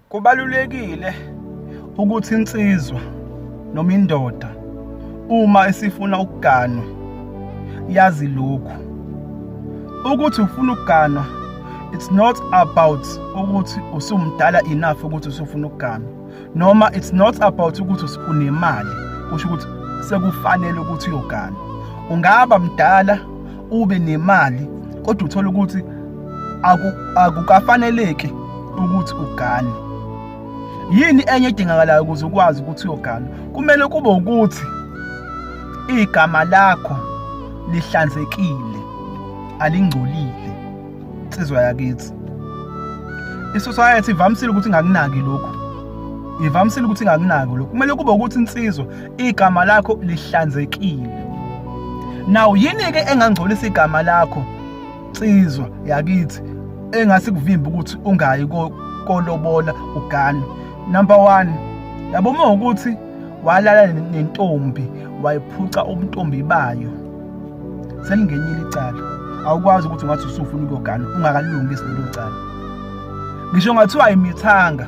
Kubalulekile ukuthi insizwa noma indoda uma isifuna ukuganwa yazi lokhu ukuthi ufuna ukuganwa it's not about ukuthi usumdala enough ukuthi usufuna ukuganwa noma it's not about ukuthi unemali kusho ukuthi sekufanele ukuthi uyoganwa ungaba mdala ube nemali kodwa uthola ukuthi akukafaneleki ukuthi ugane yini enye edingakalayo ukuze ukwazi ukuthi uyogana kumele kube ukuthi igama lakho lihlanzekile alingcolile insizwa yakithi isociety ivamisile ukuthi ngakunaki lokhu ivamisile ukuthi ngakunaki lokhu kumele kube ukuthi insizwa igama lakho lihlanzekile naw yini ke engangcolisa igama lakho nsizwa yakithi engasikuvimba ukuthi ungayi kolobola ugane number 1 yabo uma ukuthi walala nentombi wayiphuca ubuntombi bayo selingenyile icala awukwazi ukuthi ungathi usufuna ukuyogana ungakalungi isilelo cala ngisho ngathiwa imithanga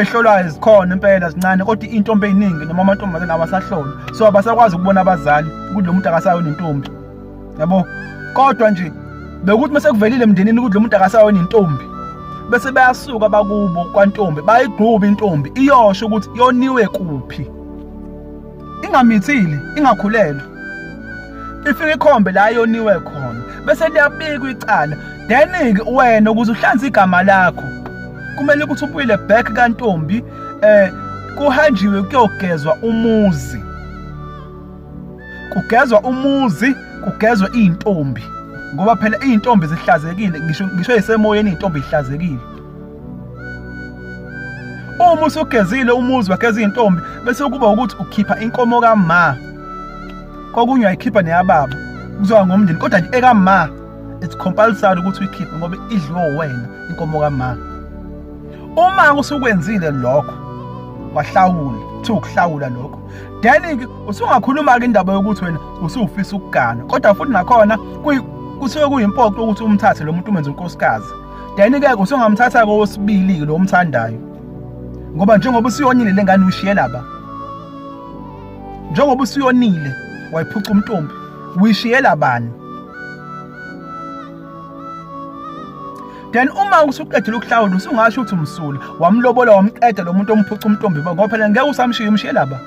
ezihlolwayo zikhona impela zincane kodwa intombi eyiningi noma amantombazane awasahlolwa so abasakwazi ukubona abazali ukuthi lo muntu akasayo nentombi yabo kodwa nje bekuthi uma sekuvelile emndenini ukuthi lo muntu akasayo nentombi bese bayasuka bakubo kwantombi bayigquba intombi iyosho ukuthi yoniwe kuphi ingamithile ingakhulelwe ifike ikhombe la yoniwe khona bese liyabikwa icala then ke wena ukuze uhlanze igama lakho kumele ukuthi ubuyile back kantombi eh kuhanjiwe kuyogezwa umuzi kugezwa umuzi kugezwe izintombi ngoba phela izintombi zihlazekile ngisho ngisho isemoyeni izintombi ihlazekile uma usugezile umuzi wageza izintombi bese kuba ukuthi ukhipha inkomo kama kokunye ayikhipha neyababa kuzoba ngomndeni kodwa nje ekama it's compulsory ukuthi uyikhiphe ngoba idliwe wena inkomo kama uma usukwenzile lokho wahlawula kuthiwa ukuhlawula lokho then ke usungakhuluma ke indaba yokuthi wena usufisa ukugana kodwa futhi nakhona kusuke kuyimpoqo ukuthi umthathe lo muntu umenze unkosikazi then ke usungamthatha kowesibili lo umthandayo ngoba njengoba usuyonile lengane ushiye laba njengoba usuyonile wayiphuca umntombi uyishiye labani then uma usuqedile ukuhlawula usungasho ukuthi umsula wamlobola wamqeda lo muntu omphuca umntombi ngoba phela ngeke usamshiye umshiye laba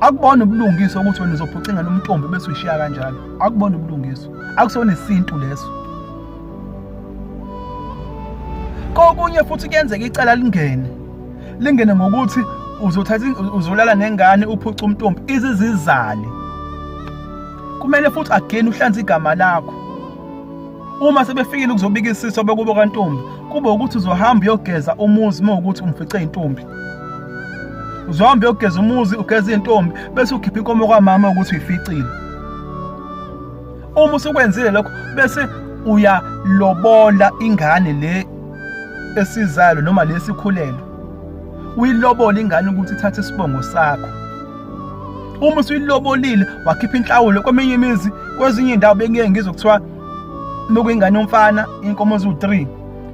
akubona ubulungiswa ukuthi wena uzophuca ingane umntombi bese uyishiya kanjalo akubona ubulungiswa akusona isintu leso kokunye futhi kuyenzeka icala lingene lingene ngokuthi uzothatha uzolala nengane uphuca umntombi izizizale kumele futhi again uhlanze igama lakho uma sebefikile ukuzobika isiso bekubo kantombi kube ukuthi uzohamba uyogeza umuzi uma ukuthi umfice intombi uzohamba uyogeza umuzi ugeza intombi bese ukhipha inkomo kwamama ukuthi uyificile uma usukwenzile lokho bese uyalobola ingane le esizalo noma lesikhulelo uyilobola ingane ukuthi ithathe isibongo sakho uma usuyilobolile wakhipha inhlawulo kweminye imizi kwezinye indawo bengeke ngizwe kuthiwa nokuyingane yomfana inkomo eziwu-3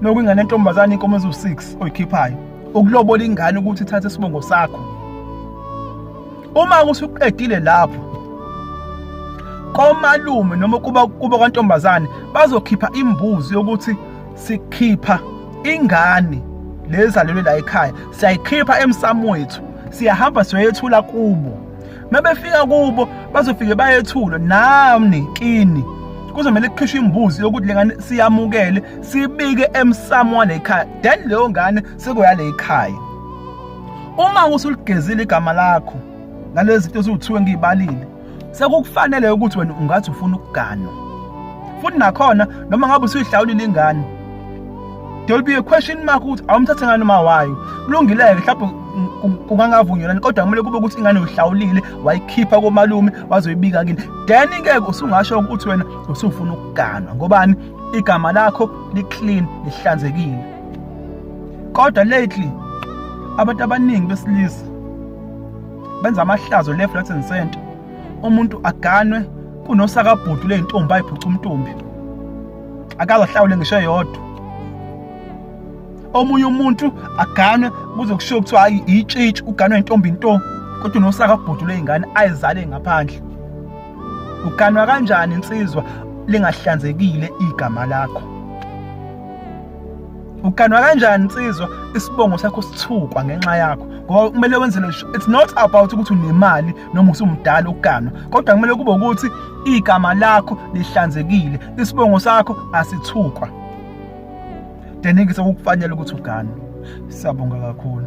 nokuyingane yentombazane inkomo eziwu-6 oyikhiphayo ukulobola ingane ukuthi ithathe isibongo sakho uma usuqedile lapho komalume noma kuba kuba kwantombazane bazokhipha imbuzi yokuthi sikhipha ingane lezalelwe la ekhaya siyayikhipha emsamo wethu siyahamba siyoyethula kubo mebefika kubo bazofike bayethula nami kini kuzomele kukhishwe imbuzi yokuthi lengane siyamukele sibike emsamo walekhaya then leyo ngane sekuya lekhaya Uma usuligezile igama lakho ngalezi zinto eziwuthiwe ngiyibalile sekukufanele ukuthi wena ungathi ufuna ukuganwa futhi nakhona noma ngabe usuyihlawulile ingane there will be a question mark ukuthi awumthathe ngani uma wayo kulungile-ke mhlawumbe kungangavunyelani kodwa kumele kube ukuthi ingane uyihlawulile wayikhipha komalume wazoyibika kini then ke usungasho ukuthi wena usufuna ukuganwa ngobani igama lakho liclean lihlanzekile kodwa lately abantu abaningi besilisa benza amahlazo left right and center umuntu aganwe kunosakabhudu leyintombi ayiphuca umntombi akaze ahlawule ngisho yodwa omunye umuntu aganwe kuze kushiwo kuthiwa hayi itshitshi uganwe intombi into kodwa unosakabhudu leyingane ayizale ngaphandle uganwa kanjani insizwa lingahlanzekile igama lakho uganwa kanjani nsizwa isibongo sakho sithukwa ngenxa yakho ngoba kumele wenze lesho it's not about ukuthi unemali noma usumdala uganwa kodwa kumele kube ukuthi igama lakho lihlanzekile isibongo sakho asithukwa deningi sokukufanele ukuthi uganwe siyabonga kakhulu